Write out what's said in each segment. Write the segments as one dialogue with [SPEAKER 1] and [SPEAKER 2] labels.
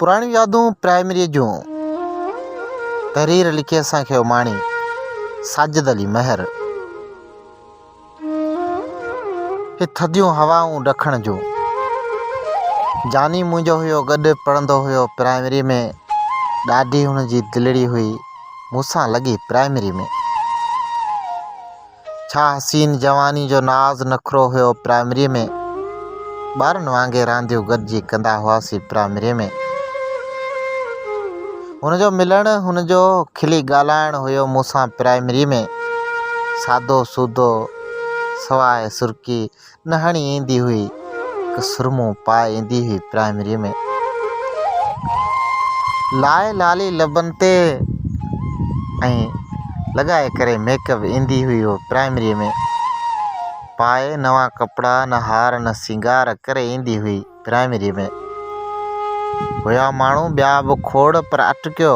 [SPEAKER 1] پراڻيون يادون پرائمريء جون تحرير لکي اسان کي اماڻي ساجد علي مهر هي ٿڌيون هوائون ڏکڻ جون جاني منهنجو هيو گڏ پڙهندو هيو پرائمريء ۾ ڏاڍي هن جي دلڙي هئي مون سان لڳي پرائمري ۾. ڇا حسين جواني جو ناز نخرو هيو پرائمري ۾. ٻارن وانگي رانديون گڏجي ڪندا هئاسين پرائمري ۾. هن جو ملڻ هن جو کلي ڳالهائڻ هيو مون سان پرائمري ۾. سادو سودو سواء سرڪي نهاڻي ايندي هئي هڪ سرمو پائي ايندي هئي پرائمري ۾ لائي لالي لبن تي ۽ لڳائي ڪري ميڪ اپ ايندي هئي هو پرائمري ۾ پائي نوان ڪپڙا نه هار نه سينگار ڪري ايندي هئي پرائمري ۾ هيا ماڻهو ٻيا به کوڙ پر اٽڪيو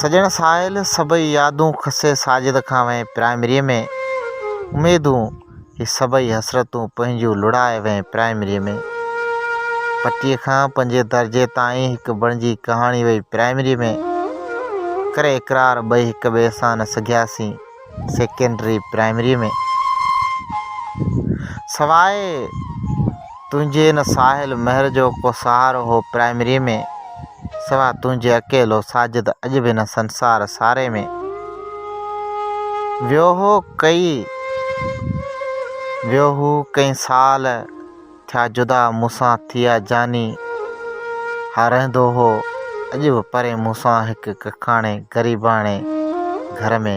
[SPEAKER 1] سڄڻ ساحل سڀئي يادون کسي ساجد کان وين پرائمريء ۾ اميدون هي سڀئي حسرتون پنهنجون لڙائي وين پرائمريء ۾ پٽي کان پنجين درجي تائين هڪ بڻجي ڪهاڻي وئي پرائمريء ۾ ڪري اقرار ٻئي هڪ ٻئي سان نه سگهياسين سيڪنڊري پرائمريء ۾. سواء تنهنجي ان ساحل مهر جو ڪو سهارو هو پرائمريء ۾. سواء تنهنجي اڪيلو ساجد اڄ به هن سنسار ساري ۾. ويو هو ڪئين ويو هو ڪئين سال. ٿيا جدا مون سان ٿيا جاني ها رهندو هو اڄ به پرين مون سان هڪ ڪکاڻي غريباڻي گهر ۾.